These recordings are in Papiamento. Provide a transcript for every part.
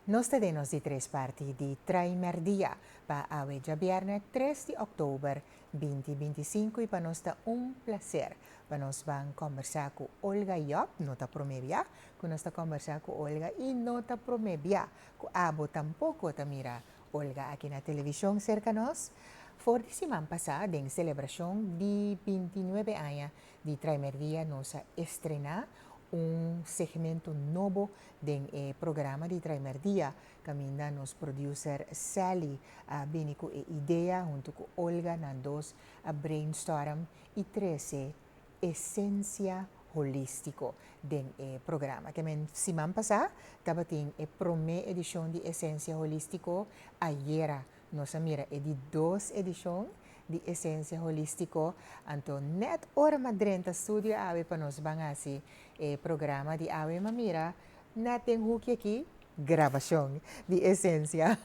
Nos ta den nos di tres parti di Trae Merdia pa awe djabièrnè tres di òktober binti binti sinku i pa nos ta un plaser pa nos ban kòmbersá ku Olga Job. No ta promé bia ku nos ta kòmbersá ku Olga i no ta promé bia ku abo tampoko ta mira Olga aki na television serka nos. For di siman pasá den selebracion di binti nuebe aña di Traimerdia nos a estrená un segmento nobo den e programa di Traimerdia caminda nos producer Sally a bini cu e idea hunto cu Olga nan dos a brainstorm y trece esencia holístico den e programa. Te men siman pasá tabatin e promé edishon di esencia holístico, ayera nos a mira e di dos edishon di esencia holístico. Anto nèt ora m'a drenta studio awe pa nos ban hasi e programa di awe m'a mira nèt den huki akí. grabashon di esensia.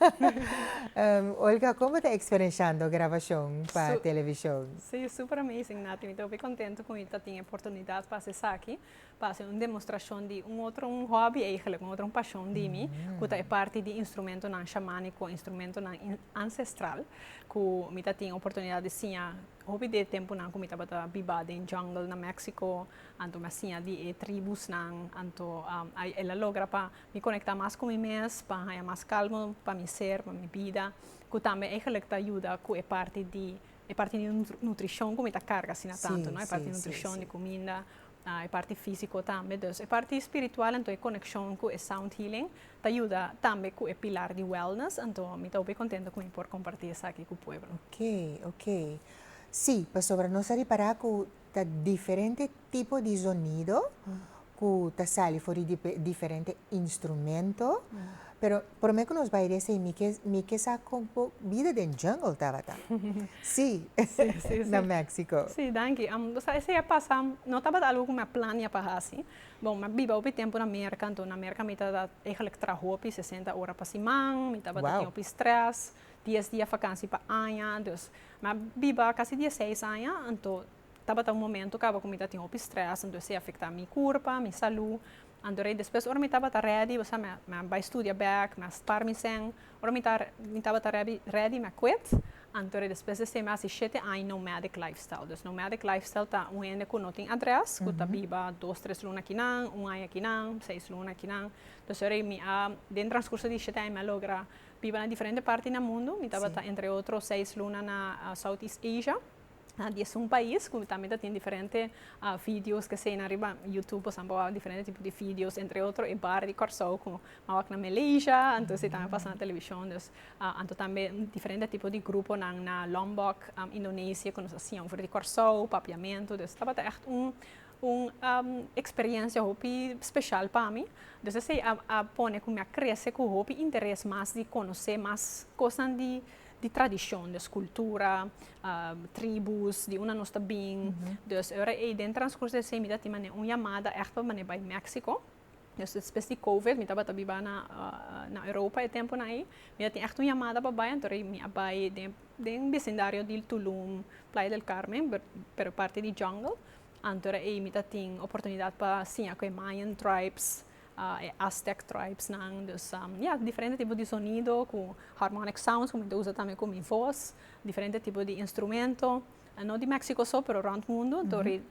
Olga, komo bo ta eksperenshando grabashon pa televishon? Sí, súper amazing, Nati. Mi ta hopi kontentu ku mi ta tin e oportunidat pa hasi esaki, pa hasi un demostrashon di un otro, un hòbi eigelik, un otro pashon di mi, ku ta e parti di instrumentonan shamániko, instrumentonan ansestral, ku mi ta tin oportunidat di siña hopi di e tempunan ku mi tabata biba den jungle na Méksiko, Anto mi a siña di e tribusnan, anto el a logra pa mi konektá mas ku mi mes, pa haña mas kalmu pa mi ser, pa mi bida, ku tambe eigelijk ta yuda ku e parti di e parti di nutrishon ku mi ta karga asina tantu, no? E parti di nutrishon, di kuminda, e parti físiko tambe. Dus e parti spiritual, anto e konekshon ku e sound healing ta yuda tambe ku e pilar di wellness, anto mi ta hopi kontento ku mi por kompartí esaki ku pueblo. Oke, oke. Sí, pasobra nos a ripará ku. ta diferente tipo di zonido ku ta sali for di diferente instrumento pero prome ku nos bai di esei mi ke mi ke sa kon ku bida den jungle tabata si na Mexico. Si danki am bo sa esei a pasa no tabata algu ku mi a plania pa hasi bo mi a biba hopi tempu na Merka enton na Merka mi ta da eigelijk traha hopi sesenta ora pa siman mi tabata tin hopi strès. dies dia fakansi pa aña, dus mi a biba kasi dieseis aña, anto tabata un momento kaba ku mi ta tin hopi strès, anto esei a afektá mi kurpa, mi salú, anto rei despues ora mi tabata rèdi, bo sa mi a bai studia bèk, mi a spar mi sèn, ora mi ta mi tabata rèbi rèdi mi a kwit, anto rei despues esei mi a hasi shete aña nomadic lifestyle, dus nomadic lifestyle ta un hende ku no tin adrès, ku ta biba dos tres luna akinan, un aña akinan, seis luna akinan, dus esei mi a den transkurso di shete aña mi a logra Biba na diferente parti na mundu. Mi tabata entre otro seis luna na Southeast Asia, na diesun pais cu tambe ta tin diferente videos kesei. Na riba Youtube boso a bawa diferente tipo di videos, entre otro e bar di Corsou cu a wak na Malaysia, anto esei tambe a pasa na television. Dus anto tambe diferente tipo di gruponan na Lombok, Indonesia cu nos a siña over di Corsou, Papiamento. Dus tabata echt un. Un experiencia hopi special pa mi. Dus esey a pone cu mi a crece cu hopi interes mas di conoce mas cosnan di tradicion. Dus cultura, tribus, di unda nos ta bin. Dus ora ey den transcurso esey mi ta tin mane un yamada echt pa mane bay Mexico. Des despues di covid mi tabata biba na na Europa e temponan ei mi a tin ègt un yamada pa bai anto mi a bai den den besindario di tulum playa del carmen pero e parti di jungle antora ei mi ta tin oportunidat pa siña ku e mayan tribes e aztec tribesnan dus ya diferente tipo di sonido ku harmonic sounds ku mi ta usa tambe ku mi voz diferente tipo di instrumento no di Mexico so pero rònt mundu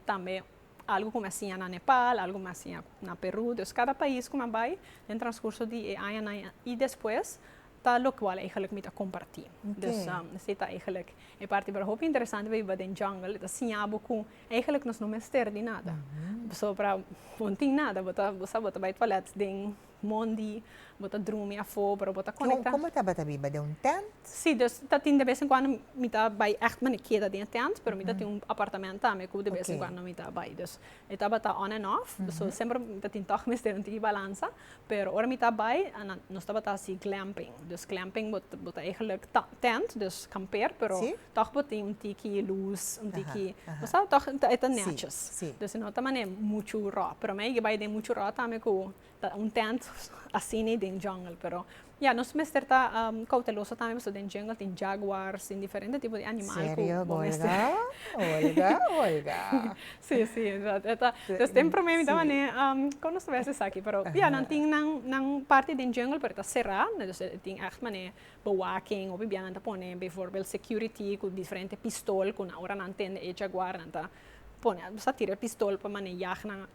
tambe Algu ku mi a siña na Nepal, algu mi a siña na Perú. Dus kada pais ku mi a bai den transkurso di e añanan i despues ta lokual eigenlijk mi ta kompartí. Dus esei ta eigenlijk e parti por hopi interesante pasobra den jungle e ta siña bo ku eigenlijk nos no mester di nada. Pasobra bo no tin nada, bo ta bo sa bo ta bai tualet den Mondi bo ta drumi afó pero bo ta konektá. Kon kon bo tabata biba den un tènt? Sí, dus ta tin de bes en kuando mi ta bai ègt mi ta keda den e tènt, pero mi ta tin un apartamènt tambe ku de bes en kuando mi ta bai. Dus e tabata on en off, so semper mi ta tin tòg mester un tiki balansa. Pero ora mi ta bai a nan nos tabata hasi glèmping. Dus glèmping bo bo ta eigelik ta tènt, dus kampeer, pero tòg bo tin un tiki lus, un tiki bo sa tòg e ta nètjes. Dus no ta manera muchu rò, pero mi a yega bai den muchu rò tambe ku Ta un tent asina den jungle pero ya nos mester ta cauteloso tambe pasobra den jungle tin jaguars tin diferente tipo di animal cu bo mester Olga Olga si si pues den prome mi ta wak ne con nos ta bai esaki pero ya nan tin nan parti den jungle pero ta cera entonces tin echt mane bewaking hopi bia nan ta pone bijvoorbeeld security cu diferente pistol cu nan ora nan tende e jaguar nan ta pone nan ta tira e pistol pa mane yag nan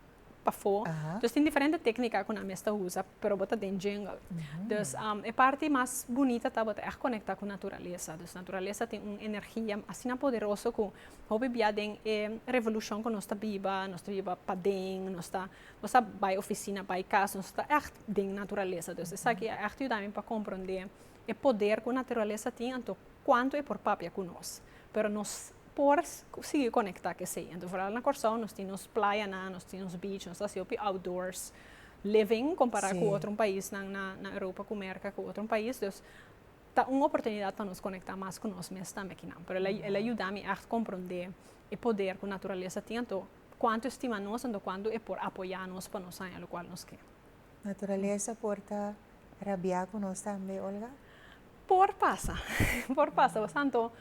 pafó. Dus tin diferente téknika ku nan mester usa pero bo ta den djengel. Dus e parti mas bunita ta bo ta ègt konektá ku naturalesa. Dus naturalesa tin un energia asina poderoso ku hopi bia den e revolushon ku nos ta biba, nos ta biba paden, nos ta nos ta bai ofisina, bai kas, nos ta ègt den naturalesa. Dus esaki a ègt yuda mi pa komprondé e poder ku naturalesa tin anto kuantu e por papia ku nos. Pero nos por sigui konektá ku esei. Anto vooral na Kòrsou nos tin nos playanan, nos tin nos beach, nos ta hasi hopi outdoors living kompará ku otro paisnan na na Europa ku Merka ku otro pais. Dus ta un oportunidat pa nos konektá mas ku nos mes tambe akinan. Pero el a yuda mi ègt komprondé e poder ku naturalesa tin anto kuantu e stima nos, anto kuantu e por apoyá nos pa nos haña lokual nos ke. Naturalesa por ta rabiá ku nos tambe, Olga? Por pasa, por pasa. Pas tantu,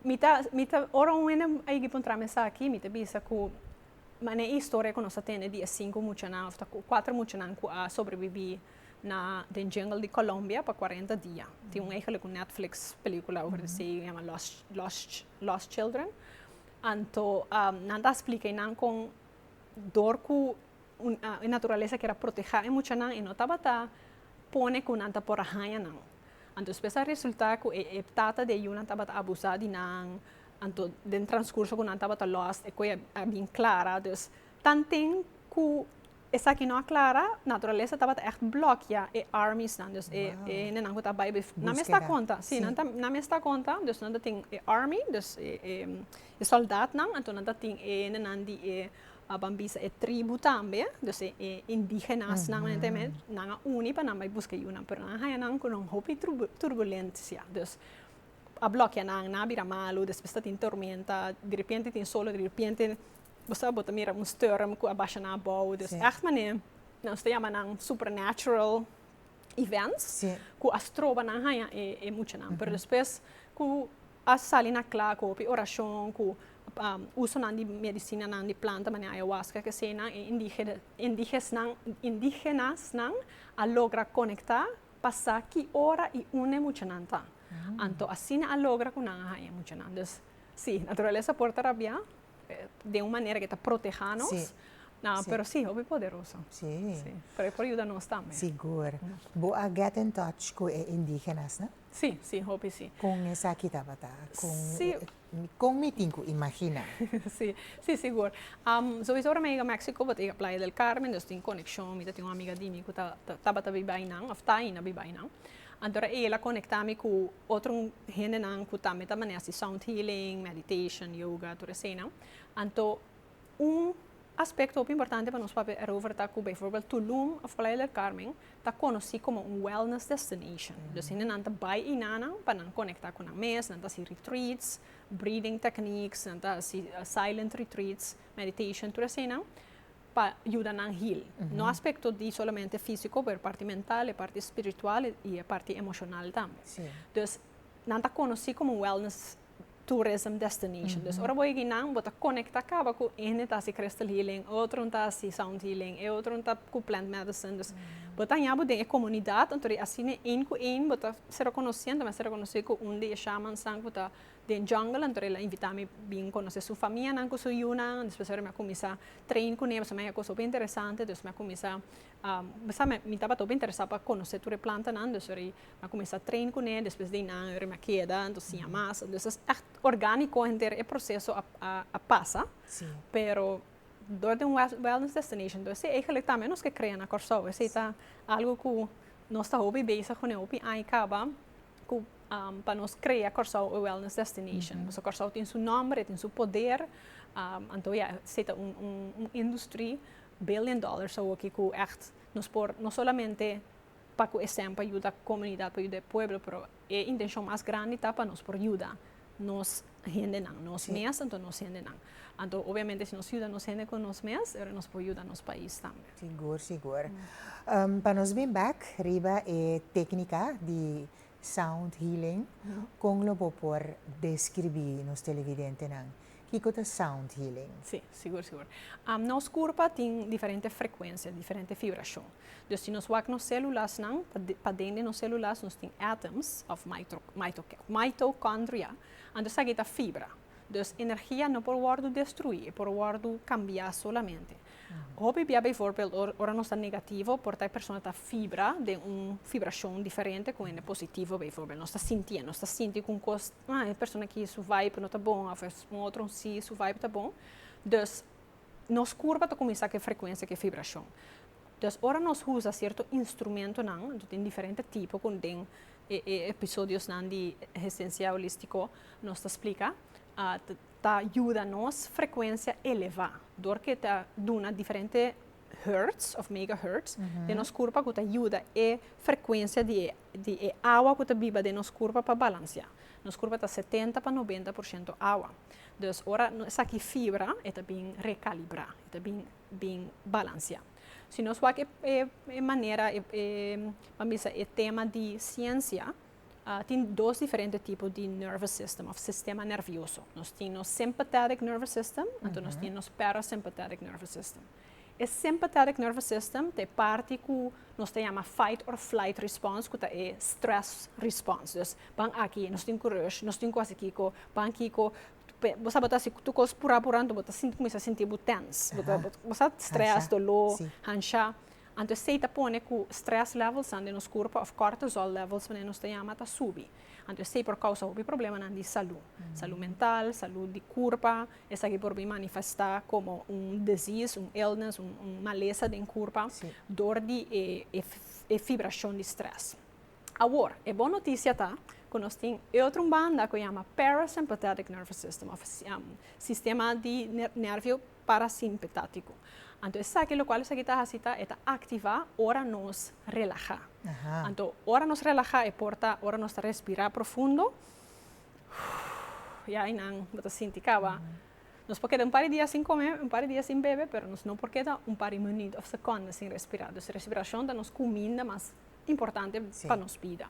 mi ta, mi ta, ora un hende a higi puntra mi esaki, mi ta bisa ku manera i historia ku nos a tende di e sinku muchanan, òf ta kuater muchanan ku a sobrebibí na den jungle di Colombia pa kuarenta dia. Tin un eigelik un Netflix pelíkula over esei ku yama Lost, Lost, Lost Children. Anto, nan ta splika einan kon dor ku e naturalesa kier a protehá e muchanan i no tabata pone ku nan ta por a haña nan. Anto despues a resultá ku e e tata di e yunan tabata abusá di nan, anto den transkurso ku nan tabata lòst e kue a bin klara. Dus tan tin ku esaki no a klara, naturalesa tabata ègt blòkea e armiesnan, dus e e hendenan ku ta bai nan mes ta konta, si nan ta nan mes ta konta, dus nan ta tin e army, dus e e. E soldatnan anto ta tin e hendenan di e aban bisa e tribu tambe, dus e e indigenasnan men te men, nan a uni pa nan bai buska e yunan, pero nan a haña nan ku un hopi turbu turbulencia, dus a blokia nan, nan a bira malu, despues ta tin tormenta, direpente tin solo, direpente bo sa bo ta mira un storm ku a basha nan abou, dus ègt manera nos ta yama nan supernatural events ku a stroba nan haña e e muchanan, pero despues ku A sali na kla ku hopi orashon ku usonan di medisinanan di planta manera ayahuasca ku esenan e indígenasnan a logra konektá pa sa ki ora i unda e muchanan ta. Anto asina a logra ku nan a haña e muchanan. Dus sí, naturalesa por ta rabia den un manera ku e ta protehá nos, pero sí, hopi poderoso. Pero e por yuda nos tambe. Sigur. Bo a get in touch ku e indígenasnan? Sí, sí, hopi sí. Con esaki tabata? Con, Sí. con mi tin cu imagina? Sí, sí, sigur. Am, sowieso ora mi a yega México, bo ta yega Playa del Carmen, dus tin konekshon. Mi ta tin un amiga di mi ku ta, ta- tabata biba einan, òf ta aina biba einan. Anto ora e el a konekta mi ku otro hendenan ku tambe ta manera así sound healing, meditation, yoga, tur eseinan. Anto. Un aspecto hopi importante pa nos papia erover ta cu bijvoorbeeld Tulum of Playa del Carmen ta conoci como un wellness destination. Dus hendenan ta bay eyna nan pa nan conecta cu nan mes, nan ta haci retreats, breathing techniques, nan ta haci silent retreats, meditation, tur eseynan pa yuda nan heal. No aspecto di solamente fisico pero e parti mental, e parti spiritual y e parti emocional tambe. Dus nan ta conoci como un wellness tourism destination. Dus ora bo yegi nan bo ta conecta caba cu ene ta haci crystal healing, e otro ta haci sound healing, e otro ta cu plant medicine. Dus bo ta haña bo den e comunidad anto di asina een cu een bo ta ser reconoci. Anto mi a ser reconoci cu un di e shamans nan cu ta den jungle anto el a invita mi bin conoce su famia nan cu su yunan. Despues ora mi a cuminsa train cun'e pasobra mi a haña cos hopi interesante. Dus mi a cuminsa. Bo sa, mi tabata hopi interesá pa konosé tur e plantanan, dus ora i a kuminsá train kuné, despues di nan ora mi a keda anto siña mas. Dus es ègt orgánico henter e proseso a pasa, pero dor den un wellness destination. Entonces sí, eigenlijk tambe nos ke krea na Kòrsou. Esei ta algu ku nos ta hopi bezig kuné hopi aña kaba, ku pa nos krea Kòrsou e wellness destination. Pasobra Kòrsou tin su nòmber, e tin su poder, anto ya, esei ta un industri Billion dollars awoki ku ègt nos por no solamente pa ku e sèn pa yuda komunidat pa yuda e pueblo pero e intenshon mas grandi ta pa nos por yuda nos hendenan nos mes anto nos hendenan anto obviamente si nos yuda nos hende ku nos mes ora nos por yuda nos pais tambe. Sigur sigur pa nos bin bak riba e teknika di sound healing, kon lo bo por deskribí nos televidentenan kiko ta sound healing? Sí, sigur, sigur. Nos kurpa tin diferente frekuensia, diferente fibrashon. Dus si nos wak nos sèlulasnan, paden di nos sèlulas nos tin atoms òf maitokòndria, anto esaki ta fibra. Dus energia no por wòrdu destruí, e por wòrdu kambiá solamente. Hopi bia bijvoorbeeld ora ora nos ta negativo por ta e persona ta fibra den un fibrashon diferente ku hende positivo bijvoorbeeld. Nos ta sintié, nos ta sinti ku un kos ah e persona aki su vibe no ta bon òf un otro sí su vibe ta bon. Dus nos kurpa ta kuminsá ku e frekuensia ku e fibrashon. Entonces ora nos usa cierto instrumentonan, nos tin diferente tipo con den e e episodiosnan di Residencia Holístico nos ta splica, ta yuda nos frecuencia eleva dor cu ta duna diferente hertz of megahertz den nos curpa cu ta yuda e frecuencia di e di e awa cu ta biba den nos curpa pa balancia. Nos curpa ta setenta pa noventa por ciento awa. Dus ora esaki fibra e ta bin recalibra, e ta bin bin balansiá. Si nos wak e manera, e a bisa e tema di siensia, tin dos diferente tipo di nervous system of sistema nervioso. Nos tin nos sympathetic nervous system, anto nos tin nos parasympathetic nervous system. E sympathetic nervous system ta e parti ku nos ta yama fight or flight response ku ta e stress response. Dus, ban aki, nos tin kurësh, nos tin ku hasi kiko, ban kiko, bo sa bo ta hasi tur cos pura pura anto bo ta cuminsa a sinti bo tense, bo sa stress, dolor, hanshá. Anto esey ta pone cu stress levels nan den nos curpo of cortisol levels pasobra nos ta yama ta subi. Anto esey por causa hopi problemanan di salud. Salud mental, salud di curpa, esaki por bin manifesta como un disease, un illness, un malesa den curpa dor di e fibracion di stress. Awor, e bon notisia ta ku nos tin e otro un banda ku yama parasympathetic nervous system òf sistema di nervio parasimpetátiko. Anto esaki lokual esaki ta hasi ta e ta aktivá ora nos relahá. Anto ora nos relahá e por ta ora nos ta respirá profundo ya einan bo ta sinti kaba. Nos por keda un par di dia sin kome, un par di dia sin bebe pero nos no por keda un par di minuut òf sekonda sin respirá. Dus respirashon ta nos kuminda mas importante pa nos bida.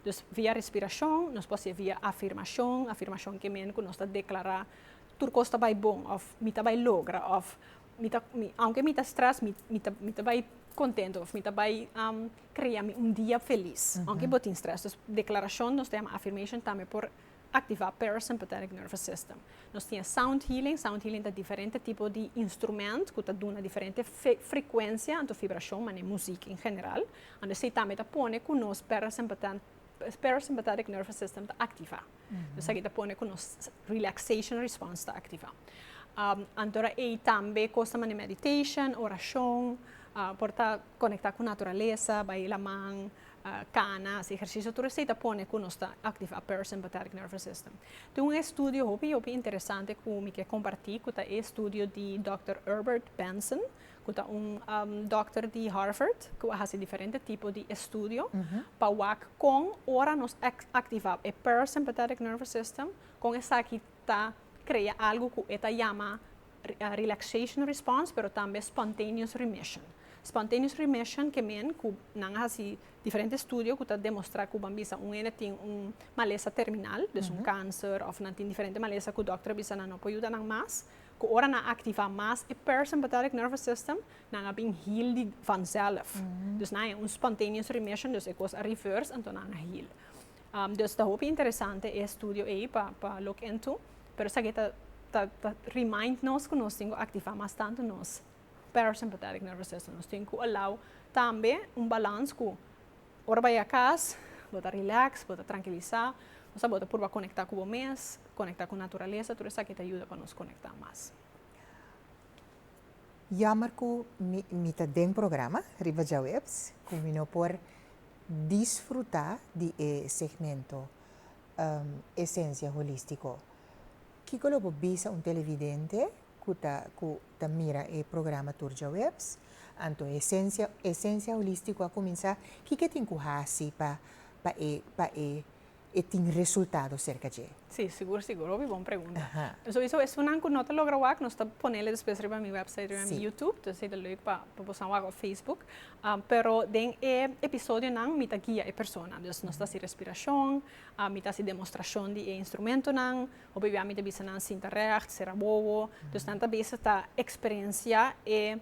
Dus via respirashon, nos por hasié via afirmashon, afirmashon ke mene ku nos ta deklará, tur kos ta bai bon, òf mi ta bai logra, òf mi ta mi aunke mi ta strès mi mi ta mi ta bai kontentu, òf mi ta bai krea mi un dia felis, aunke bo tin strès. Dus deklarashon nos ta yama afirmashon tambe por Activa parasympathetic nervous system. Nos tin e sound healing, sound healing ta diferente tipo di instrument cu ta duna diferente frecuencia anto vibracion mane muziek en general. Anto esey tambe ta pone cu nos parasympathetic nervous system ta activa. Entonces aki ta pone cu nos relaxation response ta activa. Antora ey tambe cosnan mane meditation, oracion, por ta conecta cu naturaleza, bay laman, Cana, si ehersisio tur esei ta pone cu nos ta activa a parasympathetic nervous system. Tin un estudio hopi hopi interesante cu mi ke comparti cu ta e estudio di Dòkter Herbert Benson cu ta un dòkter di Harvard cu a haci diferente tipo di estudio pa wak con ora nos activa e parasympathetic nervous system con esaki ta crea algo cu e ta yama relaxation response pero tambe spontaneous remission. Spontaneous remission ke men ku nan a hasi diferente estudio ku ta demostrá ku ban bisa un hende tin un malesa terminal, des un kanser òf nan tin diferente malesa ku dòkter a bisa nan no por yuda nan mas, ku ora nan aktivá mas e parasympathetic nervous system nan a bin heal di vanzelf. Dus nan e un spontaneous remission, dus e kos a reverse anto nan a heal. Dus ta hopi interesante e estudio ei pa pa look into. Pero esaki ta ta remind nos ku nos tin ku aktivá mas tantu nos parasympathetic nervous system. Nos tin ku alou tambe un balans ku ora bo yega kas bo ta relax, bo ta trankilisá, òsèf bo ta purba konektá ku bo mes, konektá ku naturalesa, tur esaki ta yuda pa nos konektá mas. Yammer ku mi mi ta den programa riba Djaweps ku mi no por disfrutá di e segmento. esensia holístiko. Kiko lo bo bisa un televidente ku ta ku ta mira e programa tur djaweps? Anto e esensia esensia holístiko a kuminsá, kiko e tin ku hasi pa pa e pa e e tin resultado serka dje? Sí, sigur sigur. Hopi bon pregunta. Aha. Souiso esunnan ku no ta logra wak, nos ta ponele despues riba mi wèpsait, riba mi YouTube. Entonces e ta lèuk pa pa bosan wak òf Facebook. Pero den e episodionan mi ta guia e persona. Dus nos ta hasi respirashon, mi ta hasi demostrashon di e instrumentonan, hopi bia mi ta bisa nan sinta règt, sera bobo. Dus nan ta bezig ta eksperiensiá e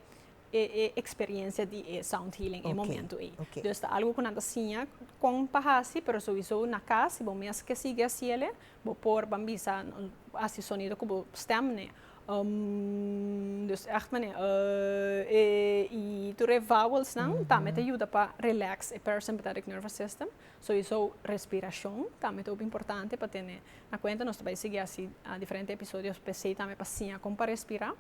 e eksperiensia di e sound healing e momentu ei. Dus ta algu ku nan ta siña kon pa hasi, pero souiso na kas si bo mes ke sigui hasiele, bo por ban bisa hasi sonido ku bo stèm, ne. dus ègt manera, e i tur e vowelsnan tambe ta yuda pa relax e parasympathetic nervous system, so e sou respirashon tambe ta hopi importante pa tene na kuenta, nos ta bai sigui hasi diferente episodionan p'esei tambe pa siña kon pa respirá.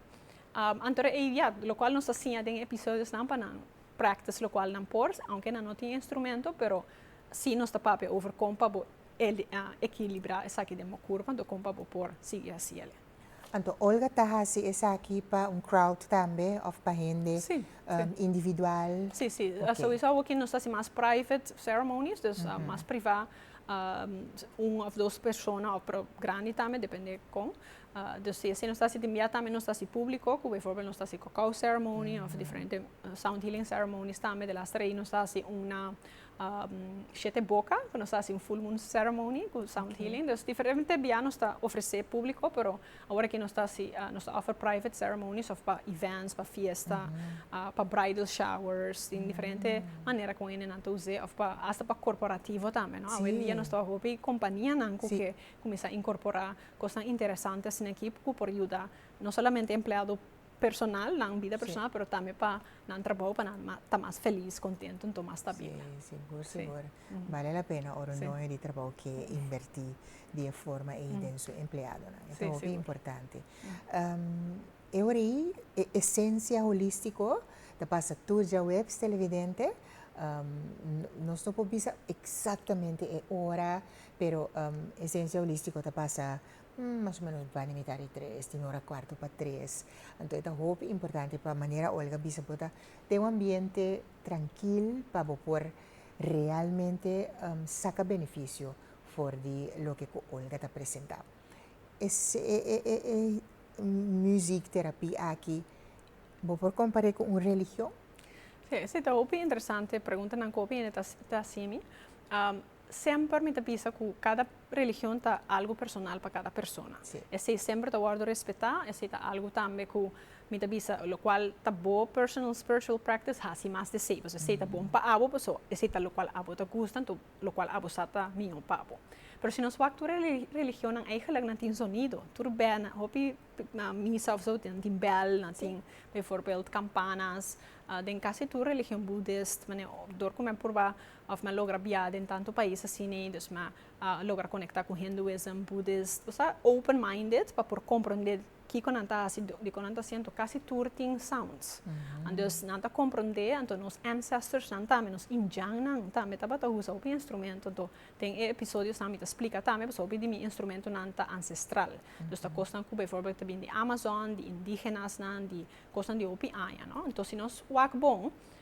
Anto ei ya lokual nos ta siña den e episodionan pa nan practice lokual nan por, aunke nan no tin instrumento pero si nos ta papia over kon pa bo e ekilibrá esaki den bo kurpa, kon pa bo por sigui hasi elei. Anto Olga ta hasi esaki pa un crowd tambe of pa hende individual? Si, si, souiso awo ki nos ta hasi mas private ceremonies, dus mas priva, un of dos persona of pero grandi tambe depende kon, dus si nos ta hasi den bia tambe nos ta hasi publico, ku bijvoorbeeld nos ta hasi cacao ceremony of diferente sound healing ceremonies tambe, de laster ei nos ta hasi una shete boka ku nos ta hasi un full moon ceremony ku sound healing dus diferente biaha nos ta ofresé públiko pero awor aki nos ta hasi nos ta offer private ceremonies òf pa events pa fiesta pa bridal showers tin diferente manera ku un hendenan ta us'é òf pa hasta pa korporativo tambe no awendia nos ta hopi kompanianan ku ke kuminsá inkorporá kosnan interesantenan aki ku por yuda no solamente empleado. personal, nan bida personal, pero tambe pa nan trabou pa nan ta mas felis, kontentu, anto mas stabila. Sí, sigur, sigur. Bale la pena ora un dueño di trabou ke invertí di e forma ei den su empleadonan. E ta hopi importante. E ora ei e esensia holístiko ta pasa tur djaweps, televidente. Nos no por bisa eksaktamente e ora, pero esensia holístiko ta pasa Mas o menos bani mitá di tres, tin ora kuarto pa tres. Anto e ta hopi importante pa manera Olga bisa bo ta ten un ambiente trankil pa bo por realmente saka benefisio for di loke ku Olga ta presentá. E e music terapi aki bo por kompar'é ku un religion? Sí, ta hopi interesante preguntanan ku hopi hende ta ta hasi mi. Semper mi ta bisa ku kada religion ta algu personal pa kada persona. Esei semper ta wòrdu respetá, esei ta algu tambe ku mi ta bisa lokual ta bo personal spiritual practice hasi mas di esei, pasobra esei ta bon pa abo, paso esei ta lokual abo ta gusta, anto lokual abo sa ta mihó pa abo. Pero si nos wak tur e religionnan eigenlik nan tin sonido, tur bèlnan, hopi misa of zout nan tin bèl, nan tin bivoorbeeld campanas, den kasi tur religion budist, manera dor ku mi a purba Of nan logra bia den tantu pais asina y dus nan a logra conecta cu Hinduism, Buddhist, o sea, open minded pa por compronde kico nan ta haci, dico nan ta haci, anto casi tur tin sounds. Anto nan ta compronde, anto nos ancestors nan tambe, nos Indian nan tambe tabata usa hopi instrumento, anto den e episodios nan mi ta splica tambe pasobra hopi di mi instrumento nan ta ancestral. Dus ta cosnan cu bijvoorbeeld ta bini di Amazon, di indigenas nan, di cosnan di hopi aña, no. Anto si nos wak bon,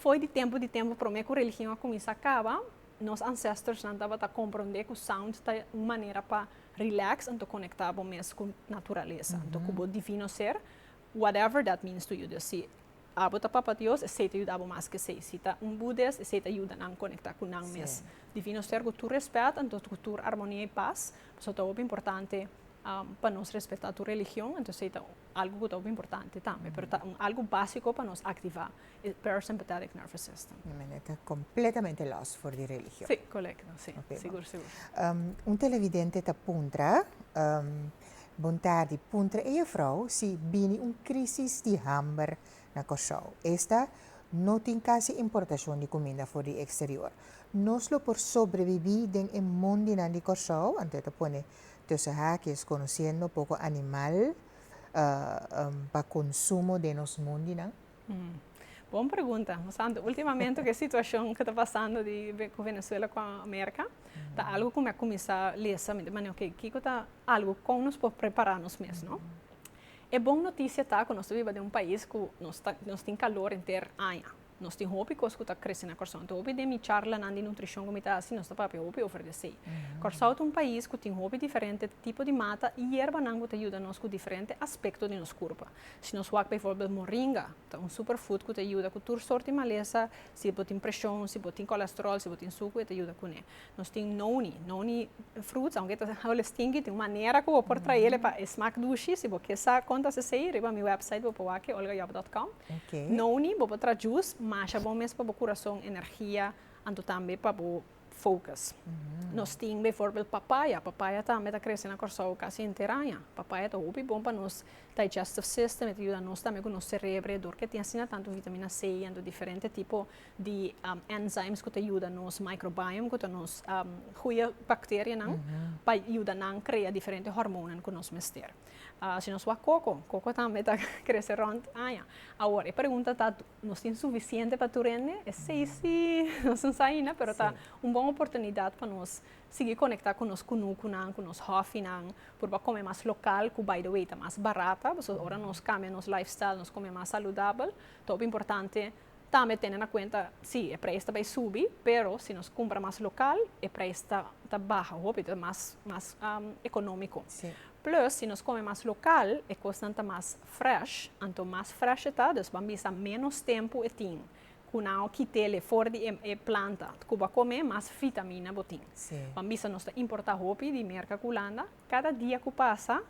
Fo'i di tempu di tempu promé ku religion a kuminsá kaba, nos ansestorsnan tabata komprondé ku sound ta un manera pa relax anto konektá bo mes ku naturalesa, anto ku bo divino ser, whatever that means to you. Dus si abo ta Papa Dios, esei ta yuda bo mas ke esei. Si ta un Budes, esei ta yuda nan konektá ku nan mes. Divino ser ku tur rèspèt, anto ku tur armonia i pas, pasobra ta hopi importante pa nos respetá tur religion, anto esei ta algu ku ta hopi importante tambe, pero ta un algu básiko pa nos aktivá. E parasympathetic nervous system. E mene ta completamente los for di religion. Si, colecto, si. Ok, Sigur, sigur. Un televidente ta puntra, Bon tardi, puntra e juffrouw si bini un crisis di hamber na Corsou. Esta no tin casi importacion di cuminda for di exterior. Nos lo por sobrebibi den e mondinan di Corsou? Anto e ta pone tussen haakjes conociendo poco animal pa consumo den nos mondinan. Bon pregunta. Nos a hanta ultimamente ku e situashon ku ta pasando ku Venezuela ku Amerika, ta algu ku mi a kuminsá lesa mi di manera, oke, kiko ta algu kon nos por prepará nos mes, no? E bon notisia ta ku nos ta biba den un pais ku nos ta nos tin kalor henter aña. Nos tin hopi kos ku ta krese na Kòrsou. Anto hopi den mi charlanan di nutrishon ku mi ta hasi nos ta papia hopi over di esei. Kòrsou ta un pais ku tin hopi diferente tipo di mata i yerbanan ku ta yuda nos ku diferente aspekto di nos kurpa. Si nos wak bijvoorbeeld moringa, ta un superfood cu ta yuda cu tur soorti malesa, si bo tin presion, si bo tin cholesterol, si bo tin sucu, e ta yuda cune. Nos tin noni, noni fruits, aunke e ta hable stinky, tin un manera cu bo por traele pa e smaak dushi, si bo kier sa con ta sasey, riba mi website bo por wak e, olgajob dot com. Noni, bo por traha juice, masha bon mes pa bo curason, energia, anto tambe pa bo focus. Nos tin beforbel papaya. Papaya tambe ta krese na Kòrsou kasi henter aña. Papaya ta hopi bon pa nos digestive system, e ta yuda nos tambe ku nos serebro e dor ku e tin asina tantu vitamina C i anto diferente tipo di enzymes ku ta yuda nos microbiome ku ta nos goeie bacterianan pa yuda nan krea diferente hormonan ku nos mester. Si nos wak koko, koko tambe ta krese rònt aña. Awor e pregunta ta Nos tin sufisiente pa tur hende? Esei si, nos no sa aina, pero ta un bon oportunidat pa nos sigui konektá ku nos kunukunan, ku nos hòfinan, por bo a kome mas lokal, ku baidawei ta mas barat ta, pasobra ora nos kambia nos lifestyle, nos kome mas saludabel, ta hopi importante tambe tene na kuenta, si, e preis ta bai subi, pero si nos kumpra mas lokal, e preis ta ta baha hopi, ta mas mas ekonómiko. Plus, si nos kome mas lokal, e kosnan ta mas Fresh, anto mas fresh e ta, dus ban bisa menos tempu e tin ku nan a kit'é le for di e planta. Ku bo a kom'é, mas vitamina bo tin. Ban bisa nos ta importá hopi di Merka ku Hulanda. Kada dia ku pasa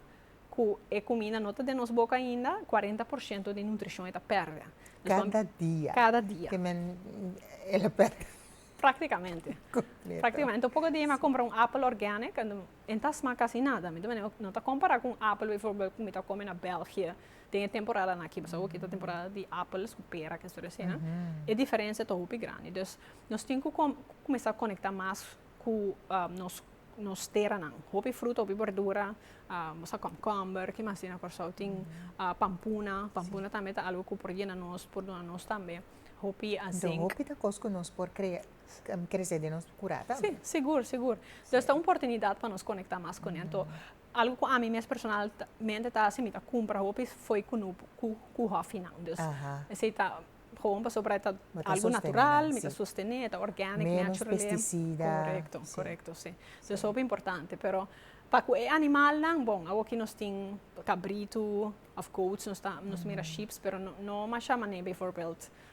ku e kuminda no ta den nos boka ainda, kuarenta por shento di nutrishon e ta pèrdè. Kada dia? Kada dia. Te men el a pèrdè? Praktikamente. Kompleto. Praktikamente. Anto poko dia mi a kompra un apel organic. E ta sma casi nada. Mi ta mira, no ta compara cu un apel bijvoorbeeld cu mi ta come na België den e temporadan aki. Pasobra aki ta temporada di apels cu pera, kende storia asina. E diferencia ta hopi grandi. Dus nos tin cu com cuminsa conecta mas cu nos nos teranan. Hopi fruta, hopi berdura, nos a komkomber, ki mas tin na Kòrsou? Tin pampuna, pampuna tambe ta algu cu por yena nos, por duna nos tambe hopi. Hopi ta cos cu nos por crea Kresé den nos kurá tambe. Sí, sigur, sigur. Pues ta un portunidat pa nos konektá mas kuné. Anto, algu ku ami mes personal ta mente ta hasi, mi ta kumpra hopi fo'i ku no ku ku hòfi nan. Dus esei ta bon pasobra por e ta algu natural, mi ta sostené, e ta organic, natural. Menos pesticida. Korekto, korekto, sí. Dus hopi importante. Pero pa ku e animalnan, bon, awor ki nos tin kabritu òf goats, nos ta mira sheeps, pero no masha manera, bijvoorbeeld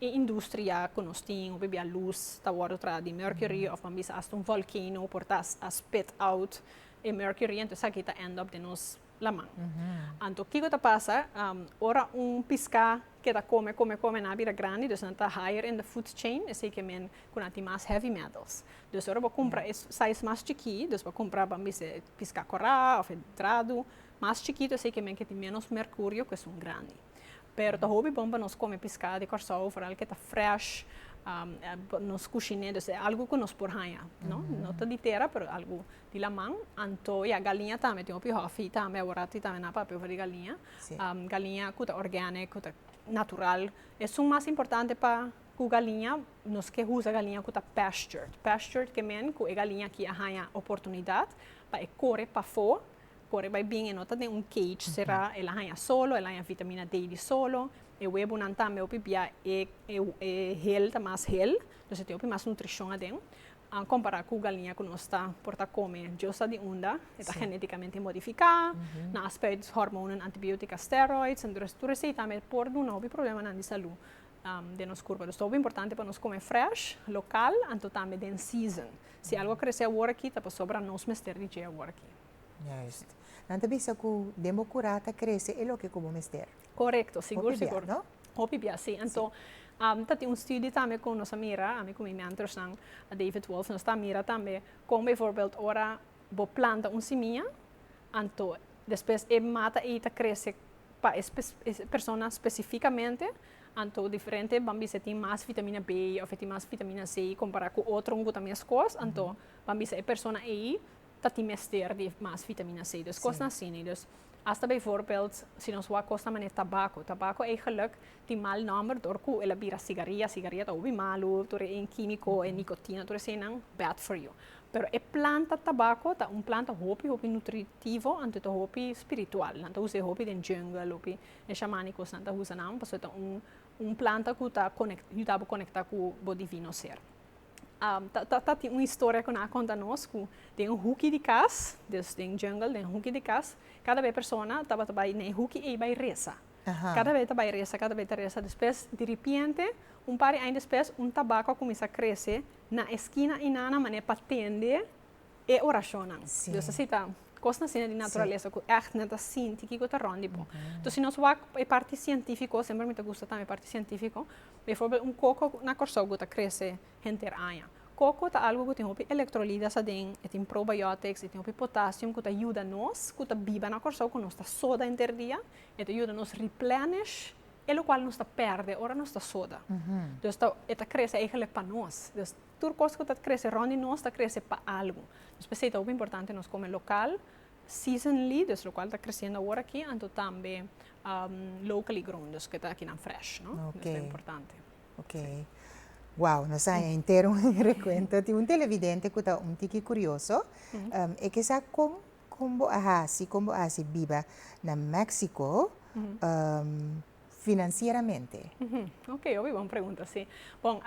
E industria cu nos tin hopi bia luz ta wordo traha di mercury of nan bisa hasta un volcano por ta a spit out e mercury ento esaki ta end up den nos laman. Anto kico ta pasa ora un pisca ke ta come come come en a bira grandi dus nan ta higher in the food chain esey ke men cu nan tin mas heavy metals dus ora bo cumpra e size mas chiki dus bo cumpra bo a bisa e pisca cora of e drado mas chikito esey ke men ke tin menos mercurio cu esun grandi Pero ta hopi bon pa nos come piscado di Corsou foral ke ta fresh nos cushine dus e algo cu nos por haya no no ta di tera pero algo di laman anto ya galiña tambe tin hopi hofi tambe awor tin tambe nan papia over di galiña galiña cu ta organic cu ta natural esun mas importante pa cu galiña nos ke usa galiña cu ta pastured pastured ke men cu e galiña aki a haya oportunidad pa e core pafo Kore bai bien, e no ta den un cage será, el a haña solo, el a haña vitamina D di solo, e webonan tambe hopi bia e e hel ta mas hel, dus e tin hopi mas nutricion aden, compará cu galiña cu nos ta por ta come diosa di unda, e ta geneticamente modificá, nan a spuit hormonen, antibiotica, steroids, entonces tur esey tambe por duna hopi problemanan di salú den nos curpa, dus ta hopi importante pa nos come fresh, local, anto tambe den season. Si algo a kresé awor aki ta pasobra nos mester di dje awor aki. Juist. Nan ta bisa ku den bo kurá ta krese e loke ku bo mester. Korekto, sigur sigur. Hopi bia, no? Hopi bia, si. Anto ta tin un studio tambe ku nos a mira, ami ku mi mentorsnan, David Wolf, nos ta mira tambe kon beivoorbeeld ora bo planta un simia, anto despues e mata ei ta krese pa e personanan spesifikamente, Anto diferente ban bisa e tin mas vitamina B of e tin mas vitamina C compara cu otron cu ta mescos, anto ban bisa e persona ey ta tin mester di mas vitamina C. Dus cosnan asi nee. Dus hasta bijvoorbeeld si nos wou cos na manera tabaco, tabaco ey geluk tin mal nomber door cu el a bira sigaria, sigaria ta hopi malo tur e quimico, e nicotina tur esenan bad for you. Pero e planta tabaco ta un planta hopi hopi nutritivo anto ta hopi spiritual, nan ta usa e hopi den jungle hopi E shamani kosnan ta usa nan pasobra ta un un planta ku ta konekt yuda bo konekta ku bo divino ser. ta ta tin un historia ku nan a konta nos ku den un huki di kas des den jungle den huki di kas kada be persona tabata bai na e huki ei bai resa. Kada be ta bai resa kada be ta resa despues diripiente un par di aña despues un tabako a kuminsá krese na eskina einan na manera pa tende e orashonnan. Dios a sita kos asina di naturalesa ku ègt nan ta sinti kiko ta rònt di bo. Anto si nos wak e parti sientífiko, semper mi ta gusta tambe e parti sientífiko, biforber un koko na Kòrsou ku ta krese henter aña. Koko ta algu ku tin hopi elektrolidas aden, e tin probiotics, e tin hopi potasio ku ta yuda nos ku ta biba na Kòrsou ku nos ta soda henter dia, e ta yuda nos replenish e lokual nos ta pèrdè ora nos ta soda. Dios ta, e ta krese eigelik pa nos. tur kos ku ta krese rònt di nos ta krese pa algu. Nos p'esei ta hopi importante nos kome lokal, season leaders, lokual ta kresiendo awor aki, anto tambe locally grown, dus ku e ta akinan fresh, no? Oke. Esei ta importante. Oke. Wou, nos a haña henter un rekuento. Tin un televidente ku ta un tiki kurioso. E ke sa kon kon bo a hasi, kon bo a hasi biba na Mèksiko finansieramente? Oke, hopi bon pregunta, si. Bon,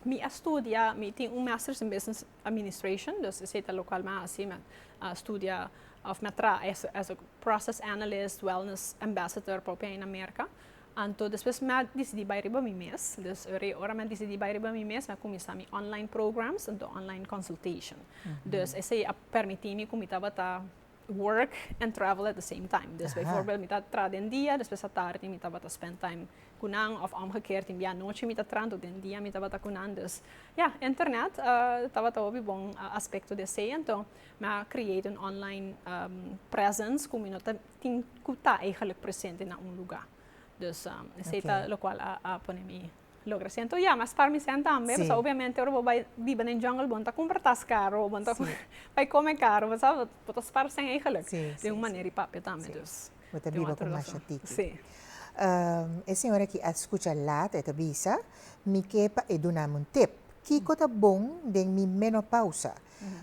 Mi a studia, mi tin un Masters in Business Administration, dus esei ta lokal mi a hasi, mi a studia òf mi a traha as a process analyst, wellness ambassador paupia na Merka. Anto despues mi a disidí bai riba mi mes, dus e ora mi a disidí bai riba mi mes mi a kuminsá mi online programs, anto online consultation. Dus esei a permití mi ku mi tabata work and travel at the same time. Dus bijvoorbeeld mi ta tra den dia, despues atardi mi tabata spend time ku nan of omgekeerd tin bianochi mi ta tra, entonces den dia mi tabata ku nan. Dus ya, internet tabata hopi bon aspecto di esei. Enton mi a create un online presence ku mi no ta tin ku ta eigenlijk presente na un lugar. Dus esei ta lokual a pone mi. Logra siento ya mas par mi sèn tambe pasá obviamente ora bo bai biba den jungle bo no ta kumpra tas karo bo no ta bai kome karo bo sa bo ta spar sèn eigenlik den un manera di papia tambe dus bo ta biba ku masha tiki e señor aki a skucha lat e ta bisa mi ke pa e duna mi un tip kiko ta bon den mi menopausa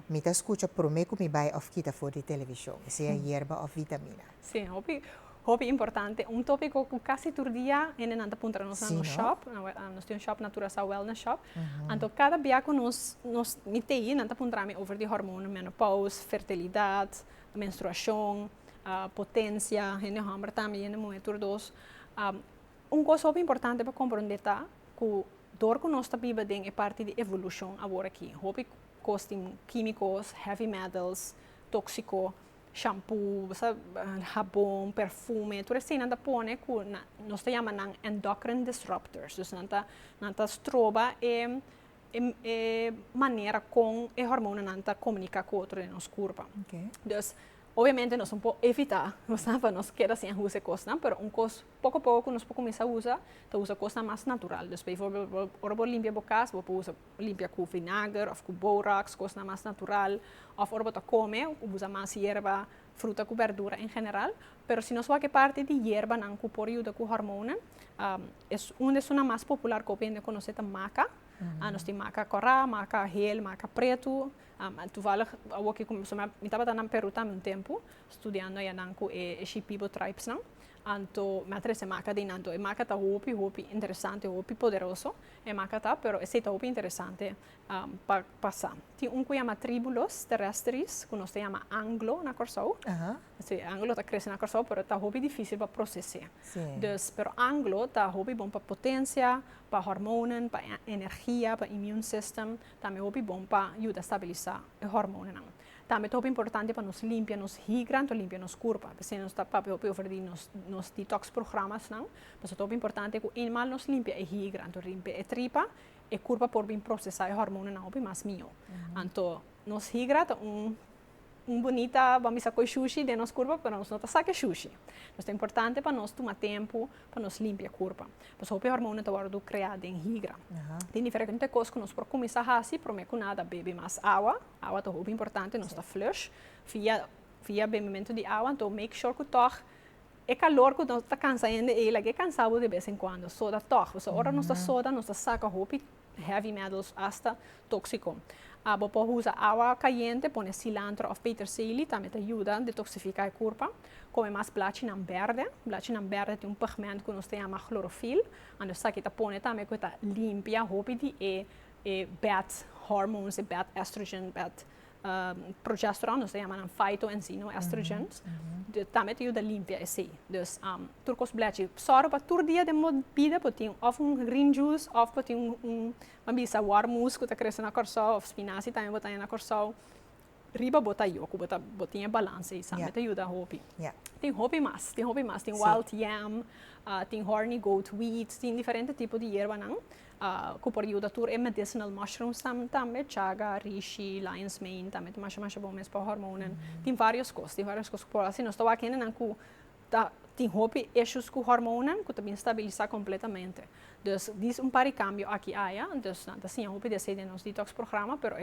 mi ta skucha prome ku mi bai òf kita for di televishon e sea yerba òf vitamina Sí, hopi, hopi importante. Un tópiko ku kasi tur dia hende nan ta puntra nos na nos shòp. Nos tin un shòp na Curaçao Wellness Shop. Anto kada bia ku nos, nos, mi tei, nan ta puntra mi over di hòrmono, menopous, fertilidat, menstruashon, potensia, hende hòmber tambe, hende muhé tur dos. un kos hopi importante pa komprondé ta ku dor ku nos ta biba den e parti di evolushon awor aki, hopi kos tin kímikos, heavy metals, tóksiko, shampu, habon, perfume, tur esei nan ta pone ku nos ta yama nan endocrine disrupters, dus nan ta nan ta stroba e e manera kon e hormonanan ta komunika ku otro den nos kurpa. Dus obviamente nos no por evitá pa nos keda sin a usa e kosnan, pero un kos poko poko ku nos por kuminsá usa, ta usa kosnan mas natural, dus pa ejemplo ora bo limpia bo kas bo por usa Limpia ku vinager òf ku borax, kosnan mas natural. Òf ora bo ta kome ku bo usa mas yerba, fruta ku bèrdura en general. Pero si nos wak e parti di yerbanan ku por yuda ku hormonan, e un di esunnan mas popular ku hopi hende a konosé ta maka. Nos tin maka kòrá, maka hel, maka pretu. Tuvalig awor ku mi tabata na Perú tambe un tempu, studiando ayanan ku e Shipibo tribes nan. Anto mi a trece maca den anto e maca ta hopi hopi interesante hopi poderoso e maca ta pero esey ta hopi interesante pa pasa tin un cu yama tribulos teresteris cu nos ta yama anglo na Corsou si anglo ta crece na Corsou pero ta hopi dificil pa procese dus pero anglo ta hopi bon pa potencia pa hormonen pa energia pa immune system tambe hopi bon pa yuda stabilisa e hormonenan Tambe ta hopi importante pa nos limpia nos higran to limpia nos kurpa. P'esei nos ta papia hopi over di nos nos detox programasnan. Pasobra ta hopi importante ku animal nos limpia e higran to rimpi e tripa, e kurpa por bin prosesá e hormonanan hopi mas mihó. Anto nos higra ta un un bunita, ban bisa koe shushi den nos kurpa pero nos no ta sa ke shushi. Nos ta importante pa nos tuma tempu pa nos limpia e kurpa. Pues hopi hormonen ta wòrdu kreá den higra. Tin diferente kos ku nos por kuminsá hasi. Promé ku nada bebe mas awa. Awa ta hopi importante, nos ta flush. Via via bebimentu di awa. Anto make sure ku tòg e kalor ku nos ta kansa hende ei, lag'é kansa bo de bes en kuando. Soda tòg, pasobra ora nos ta soda nos ta saka hopi heavy metals hasta tóksiko. Abo por usa awa kayente, pone silantro òf peterseli, tambe ta yuda detoksifiká e kurpa. Kome mas blachinan bèrdè. Blachinan bèrdè tin un pigment ku nos ta yama klorofil, anto esaki ta pone tambe ku e ta limpia hopi di e bad hormones, e bad estrogen, bad progesterone, nos ta yama nan faito enzino estrogens, tambe ta yuda limpia esei. Dus tur kos blechi, sòru pa tur dia den bo bida bo tin òf un green juice òf bo tin un, a bisa wòrmus ku ta krese na Kòrsou òf spinaci tambe bo ta haña na Kòrsou, riba bo ta yo ku bo ta bo tin e balans ei sa me ta yuda hopi. Tin hopi mas, tin hopi mas, tin wild yam, tin horny goat weeds, tin diferente tipo di yerbanan cu por yuda tur e medicinal mushrooms tambe, chaga, rishi, lion's mane tambe ta masha masha bon mes pa hormonen. Tin varios cos, tin varios cos cu por haci. Nos ta wak hendenan cu ta tin hopi issues cu hormonen cu ta bin stabilisa completamente. Dus di un par di cambio aki y aya, dus nan ta siña hopi di esey den nos detox programa pero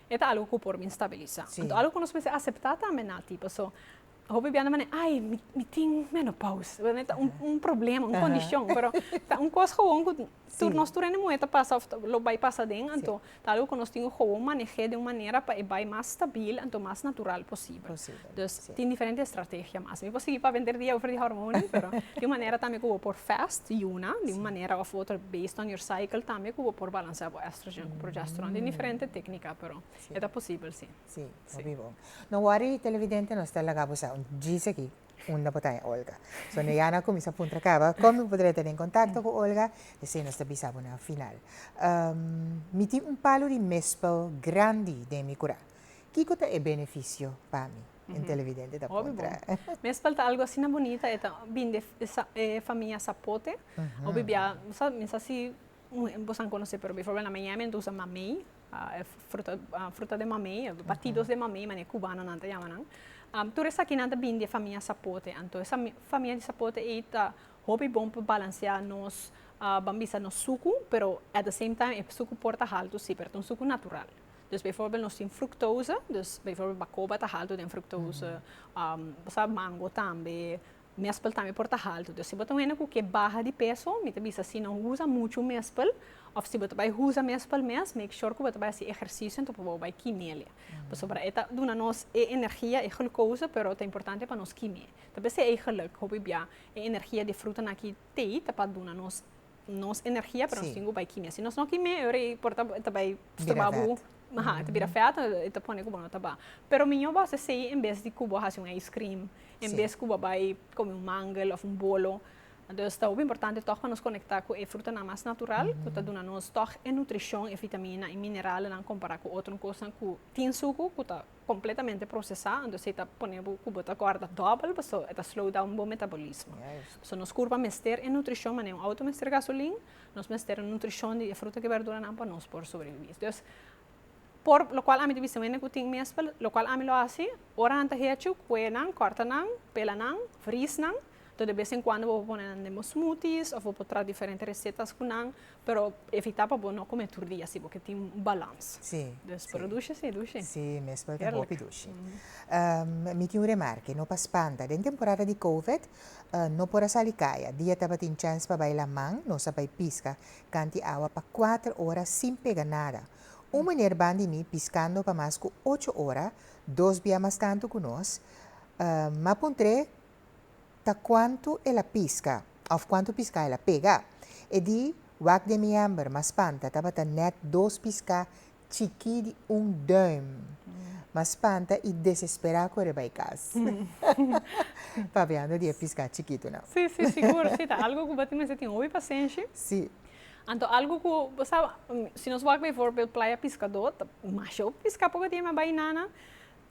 e ta algo cu por bin stabilisa. Anto algo cu nos mester acepta tambe Nati, paso Hopi bianan manera ai mi tin menopauze no ta un problema un condicion pero ta un cos gewoon cu tur nos tur hende muher ta pasa of lo bay pasa aden anto ta algo cu nos tin cu gewoon manehe den un manera pa e bay mas stabil anto mas natural posibel dus tin diferente estrategia mas mi por sigui pa vender dia over di hormone pero tin un manera tambe cu bo por fast di una di un manera of otro based on your cycle tambe cu bo por balansea bo estrogen cu progesteron tin diferente tecnica pero e ta posibel si. Sí, bo biba un. No wori televidente nos ta laga bo sa un djis aki unda bo ta e Olga. So no ya na cuminsa puntra caba con mi podria tene contacto cu Olga esey nos ta bisa bo na final. Mi tin un palo di mespel grandi den mi cura. Kico ta e beneficio pa mi? Un televidente ta puntra. Mespel ta algo asina bonita e ta bin di e famia Sapote. Hopi bia bo sa misa si bo sa conoce pero biforbel na Miami anto usa mamey. e fruta fruta de mamey batidos de mamey mane cubano nan ta yama nan tur esaki nan ta bini di e famia sapote anto esa mi famia di sapote ey ta hopi bon pa balansea nos ban bisa nos suku pero at the same time e suku por ta haltu si pero ta un suku natural dus bivoorbeeld nos tin fructose dus bivoorbeeld bacoba ta haltu den fructose pasaba mango tambe Mespel tambe por ta haltu. Entonces si bo ta wene cu ke baha di peso, mi ta bisa si no usa muchu mespel, of si bo ta bay usa mespel mes, make sure cu bo ta bay haci ehercicio anto pa bo bay kime'le. Pasobra e ta duna nos e energia, e glucose, pero ta importante pa nos kime. Tal bes e eigenlijk, hopi bia e energia di e frutanan aki tey ta pa duna nos. Nos energia pero nos tin cu bay kimia si nos no kimia ora y por ta bay stroba bo aja ta bira vet y ta pone cu bo no ta ba pero mijo bo haci asey en bes di cu bo haci un ice cream en bes cu bo bay come un mangel of un bolo entonces ta hopi importante tog pa nos conecta cu e frutanan mas natural cu ta duna nos tog e nutricion e vitamina y mineralnan compara cu otro cosnan cu tin sucu cu ta completamente procesa entonces e ta pone bo cu bo ta gorda dobel paso e ta slow down bo metabolismo so nos curpa mester e nutricion manera un auto mester gasolin nos mester e nutricion di e fruta y verdura nan pa nos por sobrevivi entonces por lo cual ami ta bisa wende cu tin mespel lo cual ami lo haci ora nan ta hecho cuenan corta nan pela nan fris nan To de bes en cuando bo por pone nan den bo smoothies of bo por traha diferente recetas cu nan, pero evita pa bo no come tur dia si bo ke tin un balans. Si, si. Pero dushi si, dushi. Si mes, pero ta hopi dushi. Mi tin un remarke, no pa spanta. Den temporada di Covid no por a sali caya. Dia tabatin chance pa bai laman, nos a bai pisca canti awa pa cuater ora sin pega nada. Un meneer ban di mi piscando pa mas cu ocho ora, dos bia mas tanto cu nos, ma puntre ta kuantu el a piska òf kuantu piská el a pega. E di wak den mi hèmber mas spanta tabata nèt dos piská chikí di un dùim. Mas spanta i desesperá kore bai kas papiando di e piská chikitunan. Sí, sí, sigur. Sí, ta algu ku bo tin mester tin hopi pasenshi. Sí. Anto algu ku bo sa, si nos wak befòrbel playa piskadó, ta masha hopi piská por bo tin e bai nana.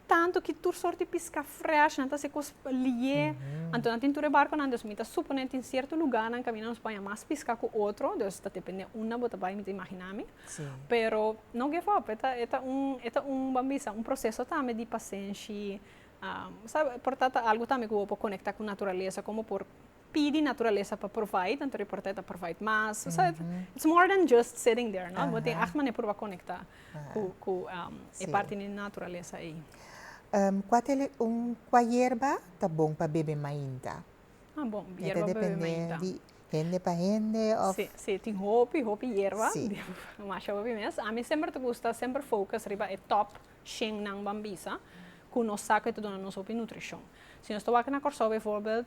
Tanto ki tur sort di pisca fresh nan ta haci cos liye, anto nan tin tur e barconan, dus mi ta suponé tin cierto lugarnan caminda nos banja mas pisca cu otro, dus ta depende unda bo ta bai mi ta imagina mi, pero no give up, e ta un, e ta un ban bisa un proceso tambe di pasenshi, porta ta algo tambe cu bo por conecta cu naturalesa, como bo por pidi naturalesa pa provide anto riporta e ta provide mas so it's more than just sitting there no bo tin acht manera por bo a conecta cu e parti di naturalesa ei. Cua ta e un cua yerba ta bon pa bebe mainta? A bon yerba pa bebe mainta. E ta depende di hende pa hende of. Si si tin hopi hopi yerba masha hopi mes ami semper ta gusta semper focus riba e top Shennan ban bisa ku nos sa ku e ta duna nos hopi nutrishon. Si nos ta wak na Kòrsou beivoorbeeld,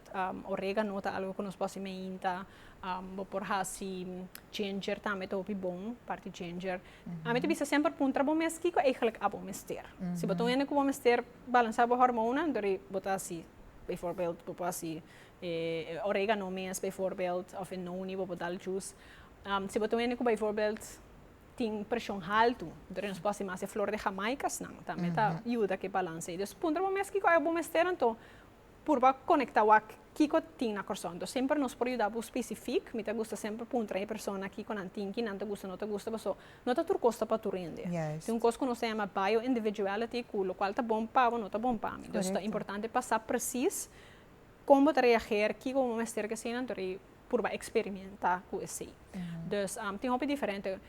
oregano ta algu ku nos por hasi meinta, bo por hasi ginger tambe ta hopi bon, parti ginger. Ami ta bisa semper puntra bo mes kiko eigelik abo mester. Si bo ta un hende ku bo mester balansá bo hormonan, anto ri bo ta hasi beivoorbeeld bo por hasi e oregano mes beivoorbeeld òf e noni bo por dal jùs. Si bo ta un hende ku beivoorbeeld tin preshon haltu, entonces nos por hasi mas e flor de jamaicasnan, tambe ta yuda ku e balans ei. Dus puntra bo mes kiko bo mester, anto purba konektá wak kiko tin na Kòrsou. Anto semper nos por yuda bo spesifik, mi ta gusta semper puntra e persona kiko nan tin, kinan ta gusta, no ta gusta, paso no ta tur kos ta pa tur hende. Tin un kos ku nos ta yama bio-individuality ku lokual ta bon pa bo no ta bon pa mi. Dus ta importante pa sa presis Kon bo ta reageer, kiko bo mester ke hasinan tur ei purba eksperimenta ku esei. Dus tin hopi diferente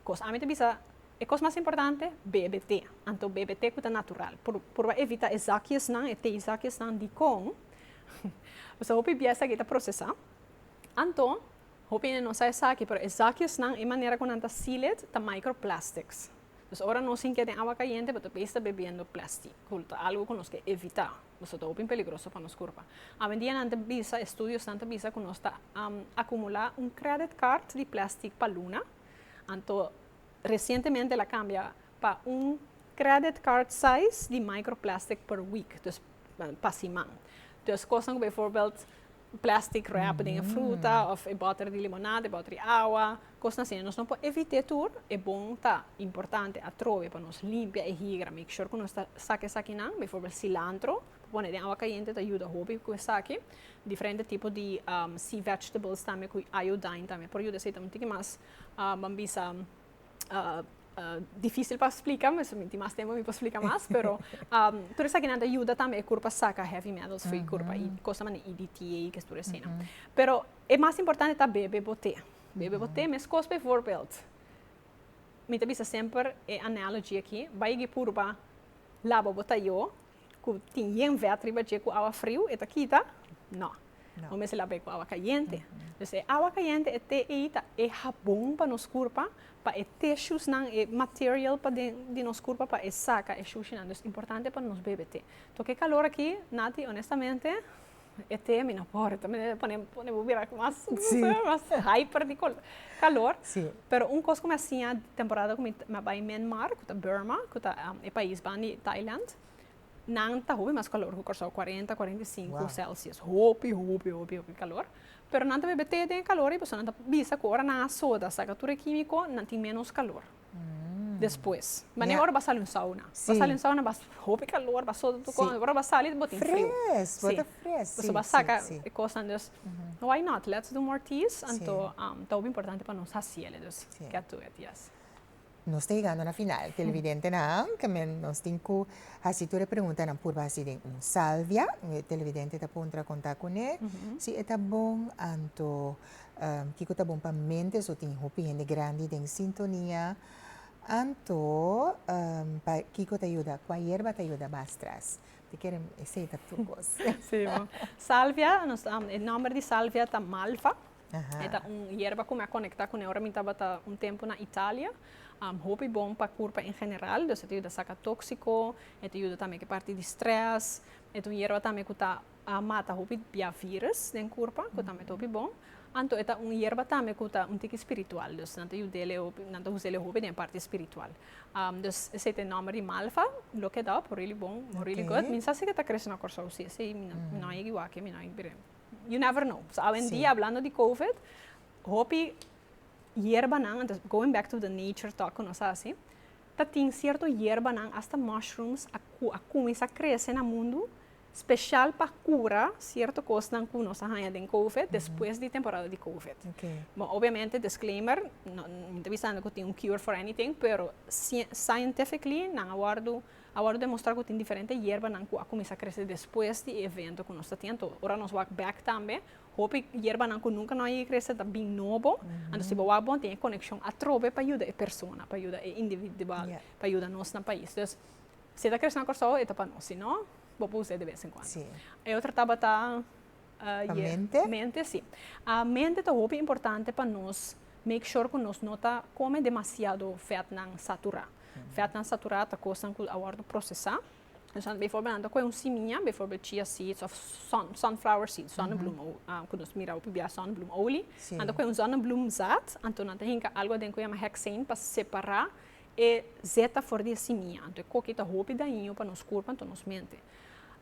kos. Ami ta bisa e kos mas importante bebe te, anto bebe te ku ta natural. Pur purba evita e zakiesnan, e teezakiesnan dikon paske hopi bies aki ta prosesa, anto hopi hende no sa esaki pero e zakiesnan e manera ku nan ta seal it ta micro plastics. Dus ora nos hinke den awa kayente bo ta bes ta bebiendo plasti ku ta algu ku nos ke evita. Boso ta hopi peligroso pa nos kurpa. Awendianan ta bisa, estudiosnan ta bisa ku nos ta akumulá un kredit kart di plèstik pa luna, anto resientemente el a kambia pa un kredit kart size di microplestic per week, pa siman. Kosnan ku befòrbèld Plastic wrap den e fruta of e boter di limonad, e boter di awa, cosnan asina. Nos no por evite tur, e bon ta importante atrobe pa nos limpia e higra, make sure cu nos ta saca esakinan, bijvoorbeeld cilantro, pone den awa cayente ta yuda hopi cu esaki, diferente tipo di sea vegetables tambe cu iodine tambe por yuda esey ta un tiki mas, bam bisa, difícil pa splika, mi tin mas tempu mi por splika mas, pero tur esaki nan ta yuda tambe e kurpa saka heavy metals for e kurpa i kosa manera EDTA i kes tur eseinan. Pero e mas importante ta bebe bo te, bebe bo te meskos bivoorbeeld, mi ta bisa semper e analogy aki, bai gi purba laba bo tayo, ku tin yenve atriba dje ku awa friu e ta kita? No. Bo mester laba e ku awa kayente. Dus e awa kayente, e te ei ta e habon pa nos kurpa, pa e teshusnan, e material paden di nos kurpa pa e saka e shushinan. Dus importante pa nos bebe te. Tok e kalor aki, Nati, onestamente. E te mi no por, ta manera pone pone bo bira ku mas mas hyper di kol kalor, pero un kos ku mi a siña di temporada ku mi a bai Menmar ku ta Burma ku ta e pais ban di Thailand, nan ta hopi mas kalor ku Kòrsou, kuarenta, kuarenta i sinku celsius, hopi hopi hopi hopi kalor, pero nan ta bebe te den e kalor i boso nan ta bisa ku ora nan a soda a saka tur e kimiko nan tin ménos kalor. despues. Manera ora bo sali un sauna. Bo sali un sauna bo a hopi calor, bo a sota tur cosa. Ora bo a sali bo tin frio. Fres, bo ta fres. Bo a saca e cosanan dus why not, let's do more teas. Anto ta hopi importante pa nos haciele. Dus get to it, yes. Nos ta yegando na final, televidentenan. Ta men nos tin cu haci tur e preguntanan purba haci den un salvia. Un televidente ta puntra conta cune si e ta bon anto. Kiko ta bon pa mente so tin hopi hende grandi den sintonia anto pa kiko ta yuda kua yerba ta yuda mas tras te kere esei ta tur kos. Si bo. Salvia nos e nomber di salvia ta malva e ta un yerba ku mi a konekta kuné ora mi tabata un tempu na Italia hopi bon pa kurpa en general dus e ta yuda saka tóksiko e ta yuda tambe ku e parti di strès e ta un yerba tambe ku ta A mata hopi bia virus den kurpa ku tambe ta hopi bon, anto e ta un yerba tambe ku ta un tiki spiritual, dus nan ta yuda el hopi, nan ta usa el hopi den e parti spiritual. Dus esei ta e nòmber di malva, look it up, really bon, really good. Mi no sa si e ta krese na Kòrsou, si esei mi no a yega wak, mi no a yega bira. You never know. So awendia hablando di covid, hopi yerbanan, anto going back to the nature talk ku nos a hasi, ta tin sierto yerbanan, hasta mushrooms, ku a kuminsá krese na mundu special pa cura cierto cosnan cu nos a haya den covid despues di temporada di covid. Bo obviamente disclaimer mi ta bisando cu tin un cure for anything pero scientifically nan a wordo a wordo demostra cu tin diferente yerbanan cu a cuminsa crece despues di e evento cu nos ta tin anto ora nos wak back tambe hopi yerbanan cu nunca no a yega crece ta bin nobo anto si bo wak bo a tin e coneccion atrobe pa yuda e persona pa yuda e individual pa yuda nos na pais. Si e ta crece na Corsou, e ta pa nos. Si no, bo por usa e de vez en cuando. Sí. E otro tabata Pa ye mente. mente, sí. A mente ta hopi importante pa nos make sure cu nos no ta come demasiado vetnan satura. Vetnan satura ta cosnan cu a wordo procesa. Entonces, bijvoorbeeld nan ta coge un simiña, bijvoorbeeld chia seeds of sun- sunflower seeds, zonnebloem o cu nos mira hopi bia zonnebloem olie. Sí. Nan ta coge un zonnebloem zaad, anto nan ta hinca algo aden cu yama hexane pa separa E zet ta for di e simia, anto e koki ta hopi daño pa nos kurpa, anto nos mente.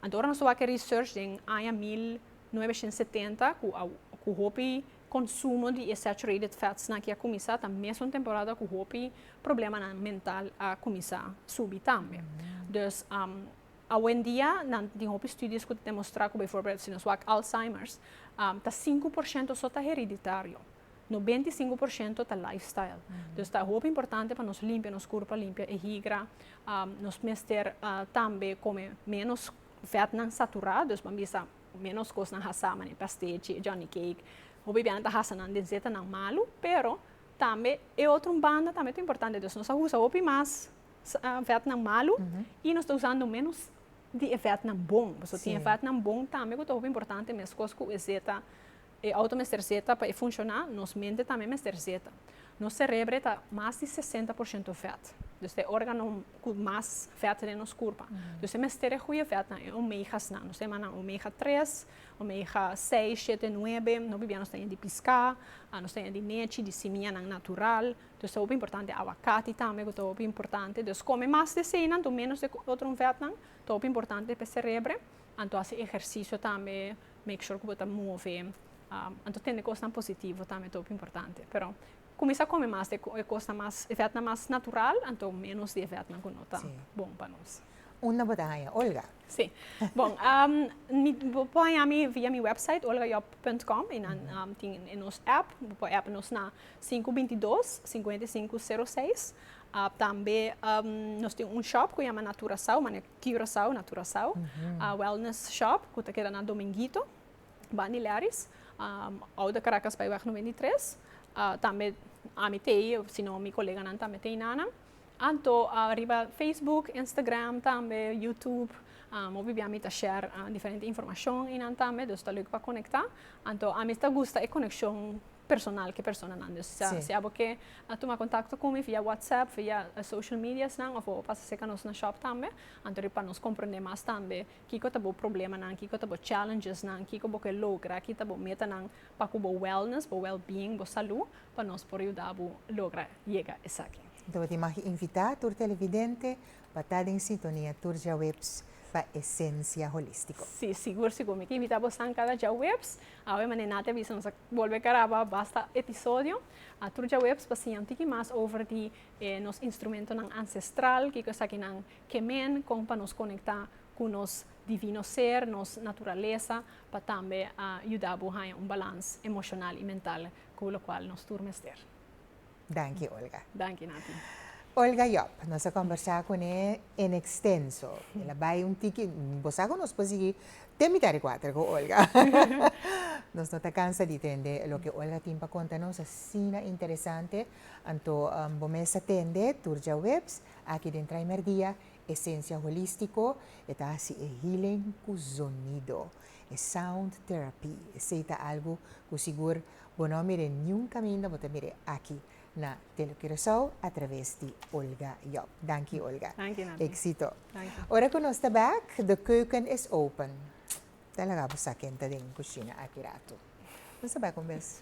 Anto ora nos ta wak research den aña mil novecientos setenta ku a ku hopi konsumo di e saturated fatsnan ke a kuminsá ta mesun temporada ku hopi problemanan mental a kuminsá subi tambe. Dus awendia nan tin hopi studios ku ta demostrá ku bivoorbeeld si nos wak Alzheimer's ta sinku por shento so ta hereditario. Nobenta i sinku por shento ta lifestyle. Dus ta hopi importante pa nos limpia nos kurpa, limpia e higra. Nos mester tambe kome ménos vètnan saturá, dus bo a bisa ménos kosnan hasá, manera pastèchi, johnny cake. Hopi biaha nan ta hasa nan den zetanan malu, pero tambe e otro un banda tambe ta importante. Dus nos a usa hopi mas vètnan malu i nos ta usando ménos di e vètnan bon. Pasobra tin e vètnan bon tambe ku ta hopi importante, meskos ku e zeta. E auto mester zeta pa e funshoná, nos mente tambe mester zeta. Nos serebre ta mas di sesenta por shento vèt, dus ta e órgano ku mas vèt den nos kurpa. Dus e mester e goeie vètnan, e omegasnan. Nos ta yama nan omega tres, omega seis, shete, nuebe. Nos bibia nos ta yama di piská, nos ta yama di nechi, di simianan natural. Dus ta hopi importante awakati tambe ku ta hopi importante. Dus kome mas di eseinan, tu ménos di e otro vètnan, ta hopi importante pa e serebre. Anto hasi ehersisio tambe make sure ku bo ta move anto tende kosnan positivo tambe ta hopi importante pero kuminsá kome mas di e kosnan mas efètnan mas natural anto ménos di efètnan ku no ta bon pa nos. Unda bo ta haña Olga? Sí bon bo por haña mi via mi wèpsait olgayòb punt kòm i nan tin e nos èp bo por èp nos na sinku binti dos sinkuenta i sinku seru seis tambe nos tin un shòp ku yama naturasou manera Curaçao na Curaçao. A wellness shop cu ta keda na Dominguito, Bani Leris, Oude Caracas Bijweg noventa i tres. Tambe ami ta ei of sino mi coleganan tambe ta ei nanan. Anto riba Facebook, Instagram tambe, YouTube, mobi biaha mi ta share diferente informacion einan tambe, dus ta leuk pa conecta. Anto ami ta gusta e coneccion personal ke personanan. Dus sa, si abo ke a tuma kontakto ku mi via whatsapp, via e social media's nan òf abo pasa serka nos na shòp tambe, anto di pa nos komprende mas tambe kiko ta bo problemanan, kiko ta bo challenges nan, kiko bo ke logra, ki ta bo metanan pa ku bo wellness, bo wellbeing, bo salú, pa nos por yuda bo logra yega esaki. Entonces bo tin mag invitá tur televidente pa ta den sintonia tur djaweps pa Esencia Holístico. Sí, sigur, sigur. Mi ta invitá bosan kada djaweps. Awe manera Nati a bisa, nos a bolbe karaba basta episodio tur djaweps pa siña un tiki mas over di e nos instrumentonan ancestral, kiko esaki nan ke men, kon pa nos konektá ku nos divino ser, nos naturalesa, pa tambe a yuda bo haña un balans emoshonal i mental ku lokual nos tur mester. Danki Olga. Danki Nati. Olga Job, nos a kombersá kuné en ekstenso. El a bai un tiki, bo sa ku nos por sigui te mitá di kuater ku Olga. Nos no ta kansa di tende loke Olga tin pa konta nos, asina interesante. Anto bo mes a tende tur djaweps aki den Trae Merdia, Esencia Holístiko. E ta hasi e healing ku zonido, e sound therapy. Esei ta algu ku sigur Bo no a mir'é niun kaminda bo ta mir'é aki na Tele Curaçao a traves di Olga Job. Danki Olga. Danki Nati. Exito. Danki. Ora ku nos ta bèk, de keuken is open. Ta laga bo sa ken ta den kushina aki ratu. Nos ta bèk un bes.